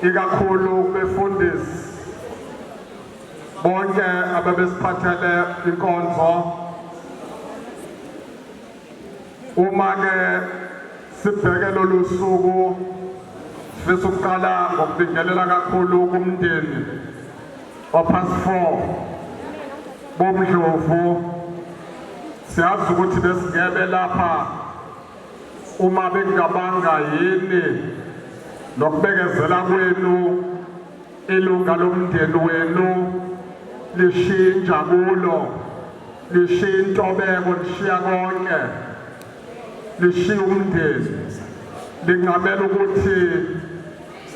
ikakhulu befundisi bonke ababesiphathele inkonzo uma ke sibheke lolu suku sifisa ukuqala ngokubingelela kakhulu kumndeni opast four bomdlovu siyazi ukuthi besingebe lapha Uma bengicabanga yini nokubekezela kwenu ilunga lomndeni wenu lishintsha kulo lishiya intobeko lishiya konke lishiya umndeni lingamela ukuthi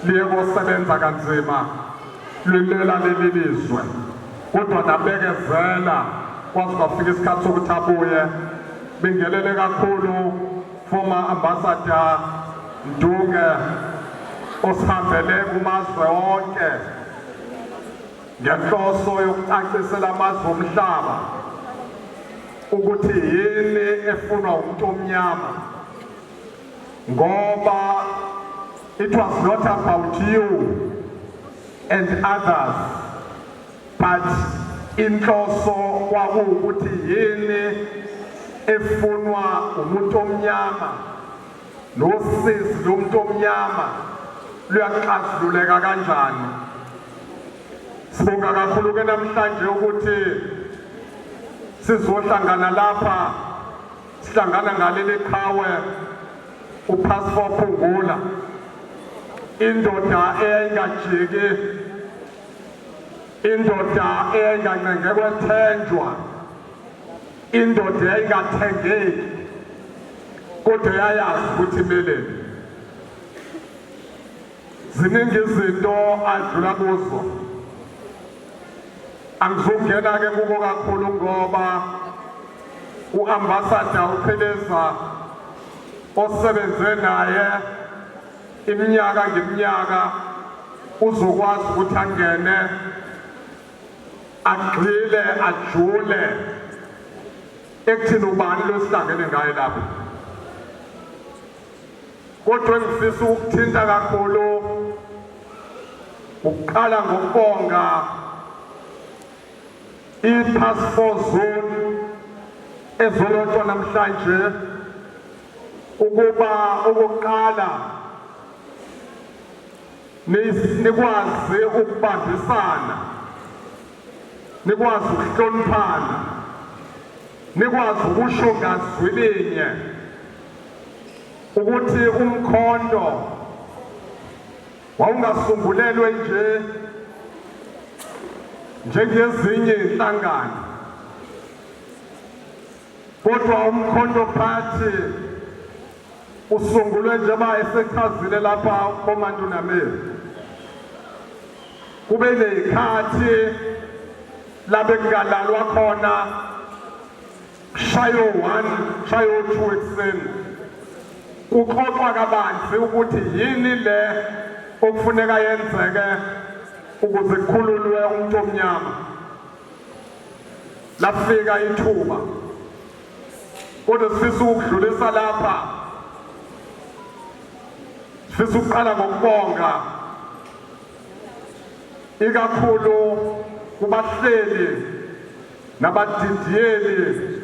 liye kosebenza kanzima lilwela leli lizwe kodwa nabekezela kwaze kwafika isikhathi sokuthi abuye bingelele kakhulu former ambassador Ndunge osihambele kumazwe onke ngenhloso yokucacisela amazwe omhlaba ukuthi yini efunwa umuntu omnyama ngoba it was not about you and others but inhloso kwakuwukuthi yini efunwa umuntu omnyama nosizi lomuntu omnyama luyaxazululeka kanjani sibonga kakhulu ke namhlanje ukuthi sizohlangana lapha Sihlangana ngaleli qhawe uPastor Phungula indoda eyayingajiki indoda eyayingancenge kwethenjwa indoda eyayingathengeki kodwa yayazi ukuthi imeleni Ziningi izinto adlula kuzo. Angizungena ke kubo kakhulu ngoba uambassador uPheleza osebenze naye iminyaka ngeminyaka uzokwazi ukuthi angene agxile ajule ekuthini ubani losihlangene ngaye lapho Kodwa engifisa ukuthinta kakhulu ukuqala ngokubonga i-task force zone ezolotshwa namhlanje ukuba okokuqala nikwazi ukubambisana nikwazi ukuhloniphana nikwazi ukusho ngazwi linye ukuthi umkhonto wawungasungulelwe nje njengezinye inhlangano kodwa umkhonto phathi usungulwe njengoba esechazile lapha ukhomanda unameli kube ney'khathi la bekungalalwa khona Shayo 1, shayo 2 ekuseni. Kuxoxwa kabanzi ukuthi yini le okufuneka yenzeke ukuze kukhululwe umuntu omnyama. Lafika ithuba. Kodwa sifisa ukudlulisa lapha. Sifisa ukuqala ngokubonga ikakhulu kubahleli nabadidiyeli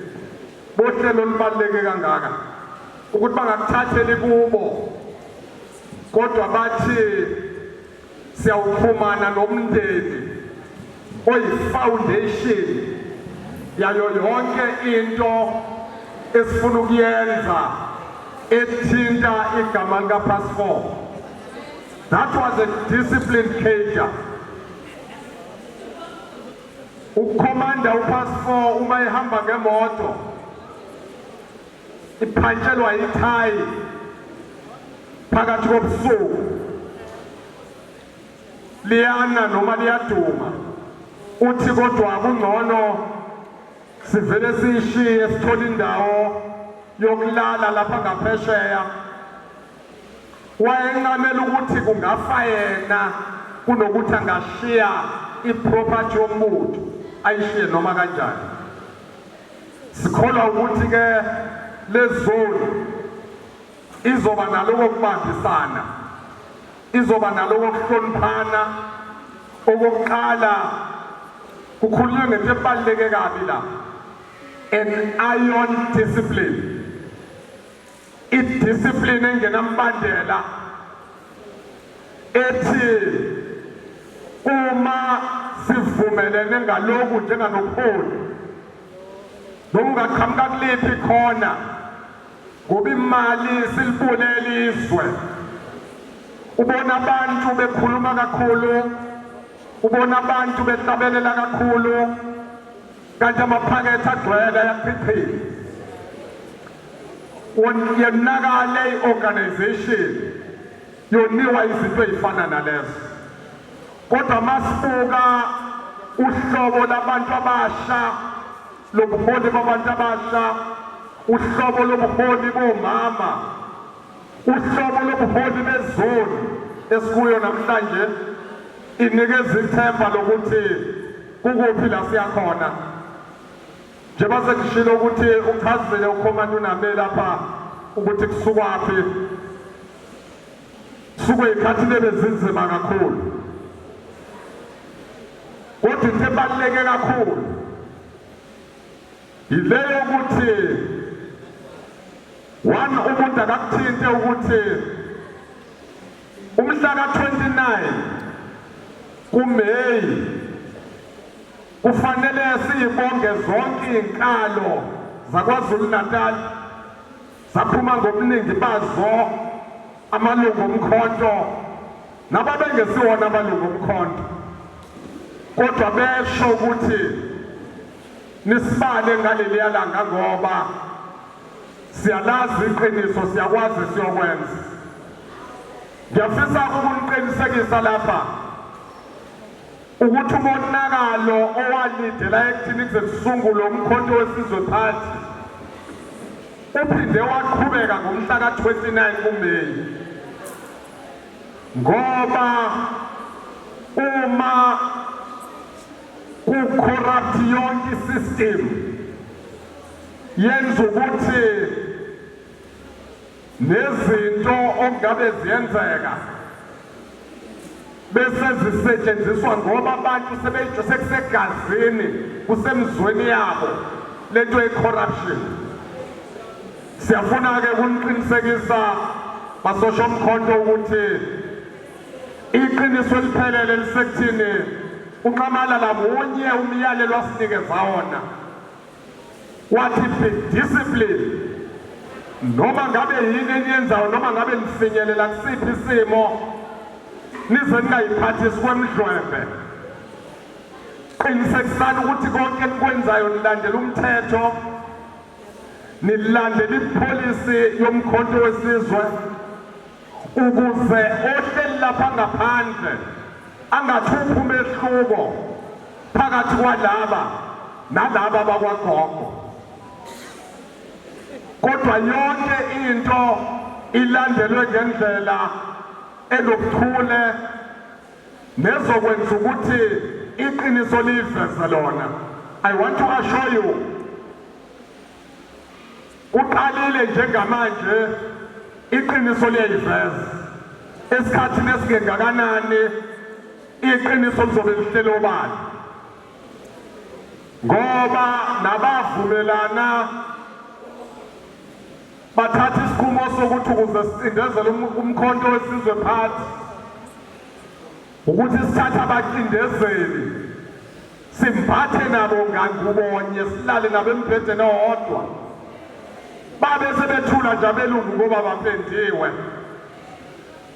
bohlelo olubaluleke kangaka ukuthi bangakuthatheli kubo kodwa bathi siyawuxhumana nomndeni oyifoundation yayo yonke into esifuna ukuyenza ethinta igama likapassport that was a disciplined cater Ukhomanda upass 4 uma ehamba ngemoto iphantshelwa ithayi phakathi kobusuku liyana noma liyaduma uthi kodwa kungcono sivele siyishiye sithole indawo yokulala lapha ngaphesheya Wayencamela ukuthi kungafa yena kunokuthi angashiya iproperty yomuntu ayishiye noma kanjani. Sikholwa ukuthi ke lezoni izoba naloko kubambisana, izoba naloko kuhloniphana okokuqala kukhulunywe ngento ebaluleke kabi la an iron discipline idiscipline engenambandela ethi uma sivumelene ngaloku njenganobuholi noma ungaqhamuka kuliphi khona ngoba imali silibule elizwe ubona abantu bekhuluma kakhulu ubona abantu behlabelela kakhulu kanti amaphakethe agcwele ayaphiphila yonakale i-organization yoniwa izinto ey'fana nalezo kodwa masibuka uhlobo labantu abasha lobuholi babantu abasha uhlobo lobuholi bomama Uhlobo lobuholi bezoni esikuyo namhlanje inikeza ithemba lokuthi kukuphi la siya khona njengoba sengishilo ukuthi uchazile ukhomani uname lapha ukuthi kusukwaphi suke ikhathi lebezinzima kakhulu kodwa into ebaluleke kakhulu Ngibeke ukuthi one umuntu akakuthinte ukuthi umhla ka-29 kuMay kufanele siyibonge zonke izinkalo zaKwaZulu-Natal zaphuma ngobuningi bazo amalungu omkhonto nababengesiwona amalungu omkhonto kodwa besho ukuthi Nisibale ngaleliya langa ngoba siyalazi iqiniso siyakwazi siyokwenza. Ngiyafisa ukuniqinisekisa lapha ukuthi umonakalo owalidela ekuthini kuze kusungule umkhonto wesizwe phansi uphinde waqhubeka ngomhla ka-29 kumeyi ngoba uma Ku corrupt yonke system yenza ukuthi nezinto okungabe ziyenzeka bese zisetshenziswa ngoba abantu sekusegazini kusemzweni yabo lento ye-corruption siyafuna-ke kuniqinisekisa basosha omkhonto ukuthi Iqiniso eliphelele lisekuthini uNxamalala munye umyalelo asinikeza wona wathi be discipline noma ngabe yini eniyenzayo noma ngabe nifinyelela kusiphi isimo nize ningayiphathisi kwemdlwembe qinisekisani ukuthi konke enikwenzayo nilandela umthetho nilandela ipolicy yomkhonto wesizwe ukuze ohleli lapha ngaphandle angathuphi umehluko phakathi kwalaba nalaba bakwagogo kodwa yonke into ilandelwe ngendlela elokuthule nezokwenza ukuthi iqiniso liyiveze lona i want to assure you Uqalile njengamanje iqiniso liyayiveza. Esikhathini esingengakanani iqiniso lizobe lihlele obani. Ngoba nabavumelana bathatha isinqumo sokuthi ukuze sicindezele umkhonto wesizwe phansi Ukuthi sithathe abacindezeli simbathe nabo ngangubonye silale nabo embhedeni owodwa babe sebethula nje abelungu ngoba bapendiwe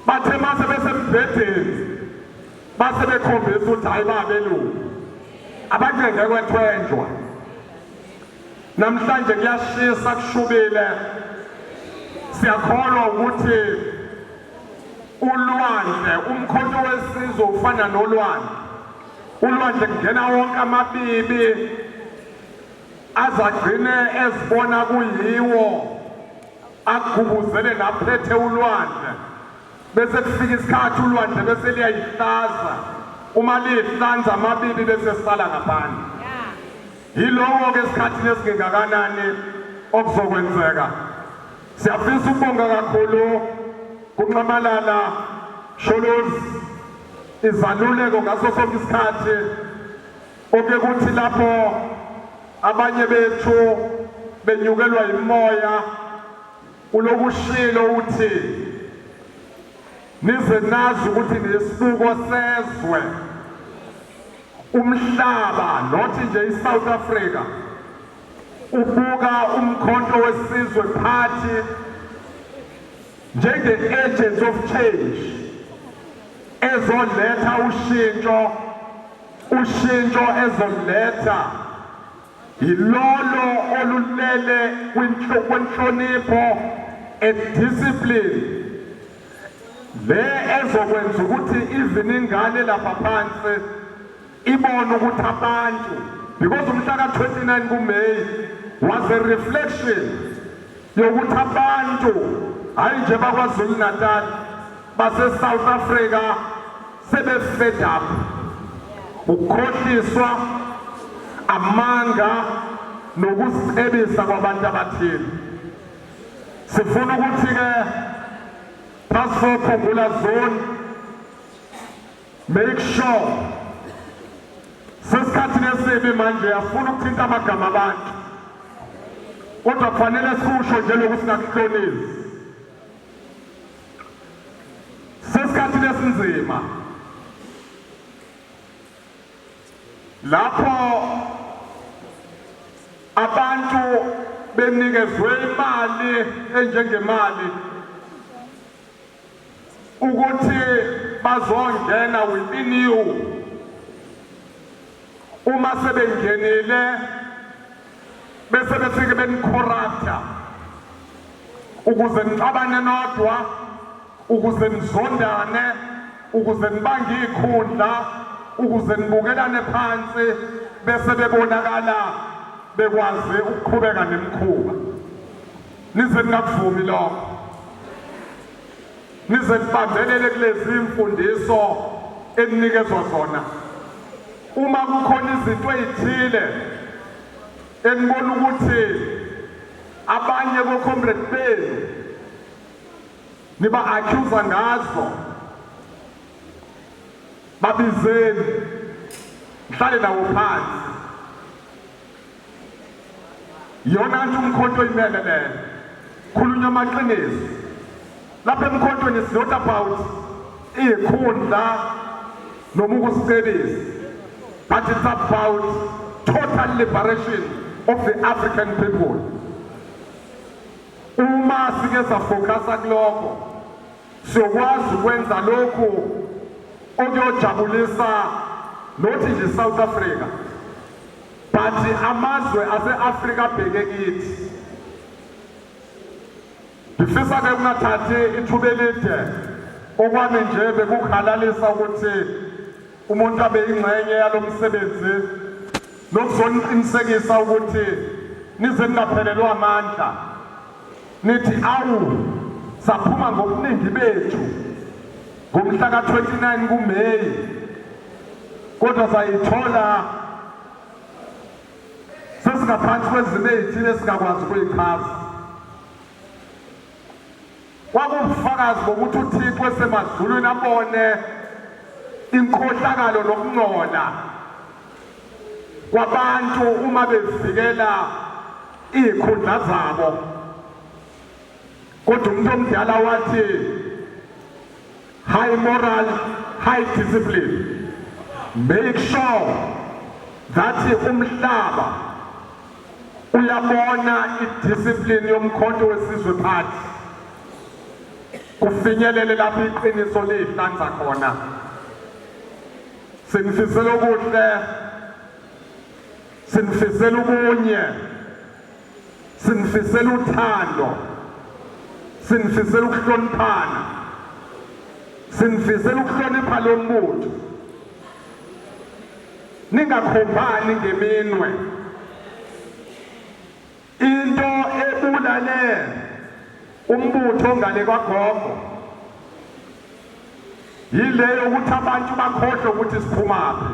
bathe mase besembhedeni base bekhombisa ukuthi hayi babelungu abancenge kwethwenjwa namhlanje kuyashisa kushubile siyakholwa ukuthi ulwandle umkhonto wesizwe ufana nolwandle ulwandle kungena wonke amabibi azagcine ezibona kuyiwo agubuzele naphethe ulwandle bese kufika isikhathi ulwandle bese liyayihlaza uma lihlanza amabibi bese sisala ngaphandle Yilowo-ke esikhathini esingengakanani okuzokwenzeka. Siyafisa ukubonga kakhulu kunxamalala Sholozi izaluleko ngaso sonke isikhathi oke kuthi lapho abanye bethu benyukelwa yimoya ulokushilo uthi nize nazi ukuthi nesibuko sezwe Umhlaba not nje iSouth Africa ubuka umkhonto wesizwe party njenge-agents of change ezoletha ushintsho ushintsho ezoletha yilolo olulele kwinhlonipho and discipline Le ezokwenza ukuthi even ingane lapha phansi ibone ukuthi abantu because umhla ka-29 kuMay was a reflection yokuthi abantu hhayi nje bakwazulu natal basesouth africa sebefed up ukukhohliswa amanga nokusicebisa kwabantu abathile Sifuna ukuthi-ke Passport Khumbula Zone make sure sesikhathini esibi manje afuna ukuthinta amagama abantu kodwa kufanele sikusho nje lokhu singakuhlonisi sesikhathini esinzima lapho abantu benikezwe imali enjengemali ukuthi bazongena within you uma sebengenile bese befike benicorrupta ukuze nixabane nodwa ukuze nizondane ukuze nibange ikhundla ukuze nibukelane phansi bese bebonakala bekwazi ukuqhubeka nemkhuba nize ningakuvumi lokho Nize nibambelele kulezi mfundiso eninikezwa zona. Uma kukhona izinto ezithile enibona ukuthi abanye bo-comrade benu niba-accusa ngazo babizeni mhlale nawo phansi yona nje umkhonto oyimele leyo khulunywa amaqiniso lapha emkhontweni is not about iyikhundla noma ukusicebisa but it's about total liberation of the african people uma sike safokasa kulokho siyokwazi ukwenza lokhu okuyojabulisa nothi nje south africa But amazwe ase-Afrika abheke kithi. Ngifisa ke kungathathi ithuba elide okwami nje bekukhalalisa ukuthi umuntu abe ingxenye yalo msebenzi nokuzoniqinisekisa ukuthi nize ningaphelelwa amandla nithi awu saphuma ngobuningi bethu ngomhla ka-29 kuMeyi kodwa sayithola sesingaphansi kwezimo ezithile esingakwazi ukuyichaza kwakubufakazi bokuthi uthixo esemazulwini abone inkhohlakalo nokungcola kwabantu uma bevikela iy'khundla zabo Kodwa umuntu omdala wathi high moral, high discipline. Make sure that umhlaba uyabona idiscipline yomkhonto wesizwe phansi kufinyelele lapho iqiniso lihlanza khona sinifisela okuhle sinifisela ubunye sinifisela uthando sinifisela ukuhloniphana sinifisela ukuhlonipha lo mbutho ningakhombani ngeminwe into ebulale umbutho ngale kwagogo yileyo ukuthi abantu bakhohlwe ukuthi siphumaphi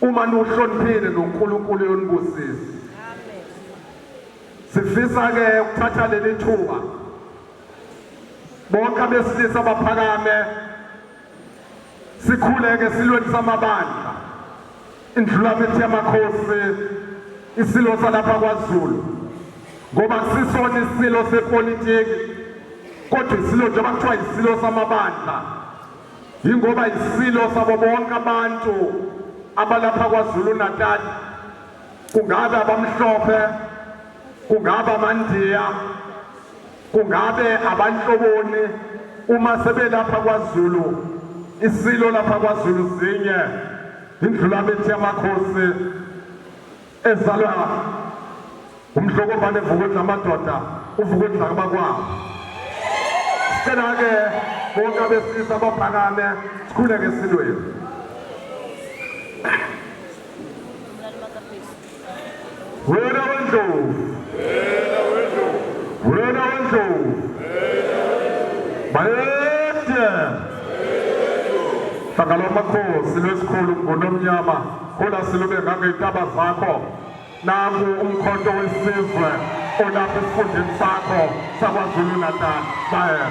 Uma niwuhloniphile noNkulunkulu uyonibusisa. Sifisa ke ukuthatha leli thuba bonke abesilisa abaphakame sikhuleke silweni samabandla indlulamithi yamakhosi isilo salapha kwaZulu ngoba sisona isilo sepolitiki kodwa isilo njengoba kuthiwa isilo samabandla Yingoba isilo sabo bonke abantu abalapha kwaZulu Natal kungabe abamhlophe kungabe amandiya kungabe abanhloboni uma sebelapha kwaZulu isilo lapha kwaZulu zinye indlulabethi yamakhosi ezalwa umdlokombane evukwini lamadoda uvukwini lakabakwabo sicela-ke bonke abesilisa baphakame sikhuleke esilweni wena wendlovu wena wendlovu bayede hlangalo makhosi lwesikhulu ngunomnyama Khula silube ngangey'ntaba zakho nangu umkhonto wesizwe olapha esifundeni sakho sakwazulu natal bayela